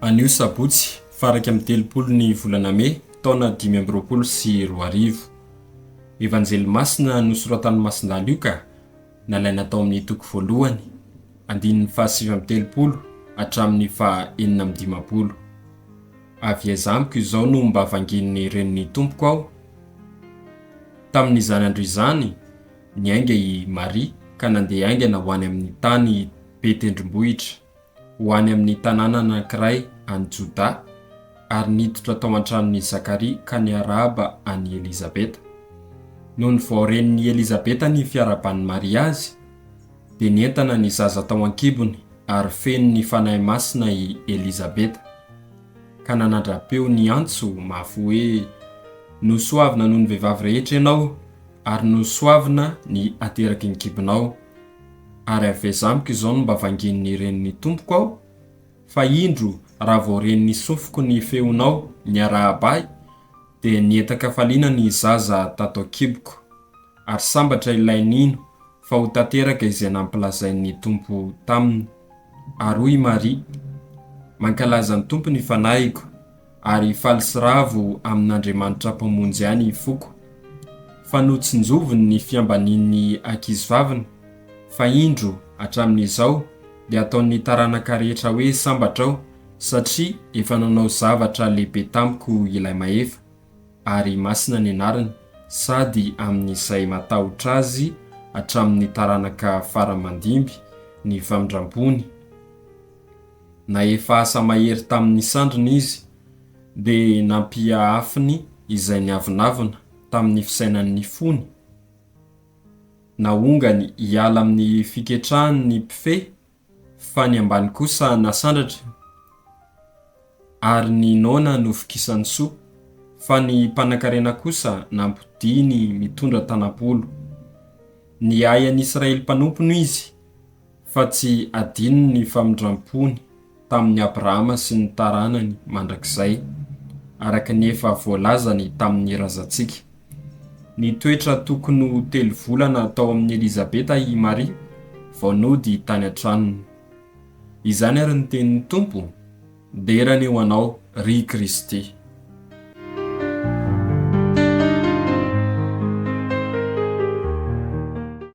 Anio sabotsy faha iraika amby telopolo ny volana mey taona dimy amby roapolo sy roa arivo. Evanjely masina nosoratan'i Masindà Lioka, nalaina tao amin'ny toko voalohany, andininy faha sivy amby telopolo hatramin'ny faha enina amby dimampolo. Avy aiza amiko izao no mba vangian'ny renin'ny Tompoko aho? Tamin'izany andro izany, Niainga i Maria ka nandeha haingana ho any amin'ny tany be tendrombohitra, ho any amin'ny tanàna anankiray any Jodà, ary niditra tao an-tranon'i Zakaria ka niarahaba an'i Elizabeta. Nony vao ren'i Elizabeta ny fiarahaban'i Maria azy, dia nientana ny zaza tao an-kibony ary feno ny fanahy masina i Elizabeta, ka nanadra-peo niantso mafy hoe, Nosoavina noho ny vehivavy rehetra ianao! ary nosoavina ny ateraky ny kibonao, ary aveza amiko izao ny mba vangin' ny ren' ny tompoko aho, fa indro raha vao ren' ny sofiko ny feonao niarahaba ahy, dia nientan-kafaliana ny zaza tato an-kiboko, ary sambatra ilay nino fa ho tanteraka izay nampilazain' ny Tompo taminy. Ary hoy i Maria, Mankalaza ny Tompo ny fanahiko. ary faly sy ravo amin'Andriamanitra Mpamonjy ahy ny foko, fa notsinjoviny ny fiambanian'ny ankizivaviny, fa indro, hatramin'izao, dia ataon'ny taranaka rehetra hoe sambatra aho, satria efa nanao zavatra lehibe tamiko Ilay Mahefa, ary masina ny anarany, sady amin'izay matahotra Azy hatramin'ny taranaka fara mandimby ny famindrampony. na efa asa mahery tamin' ny sandriny izy, dia nampiaafiny izay niavonavona tamin' ny fisainan' ny fony, naongany hiala amin' ny fiketrahan' ny mpifehy, fa ny ambany kosa nasandratra, ary ny noana novokisan' soa, fa ny mpanankarena kosa nampodiany mitondra tanam-polo. Niahy an' Israely mpanompony izy. fa tsy adino ny famindram-pony tamin'i Abrahama sy ny taranany mandrakizay, araka ny efa voalazany tamin'ny razantsika. Nitoetra tokony ho telo volana tao amin'i Elizabeta i Maria vao nody tany an-tranony. Izany àry ny tenin'ny Tompo, Dera anie ho anao, ry Kristy!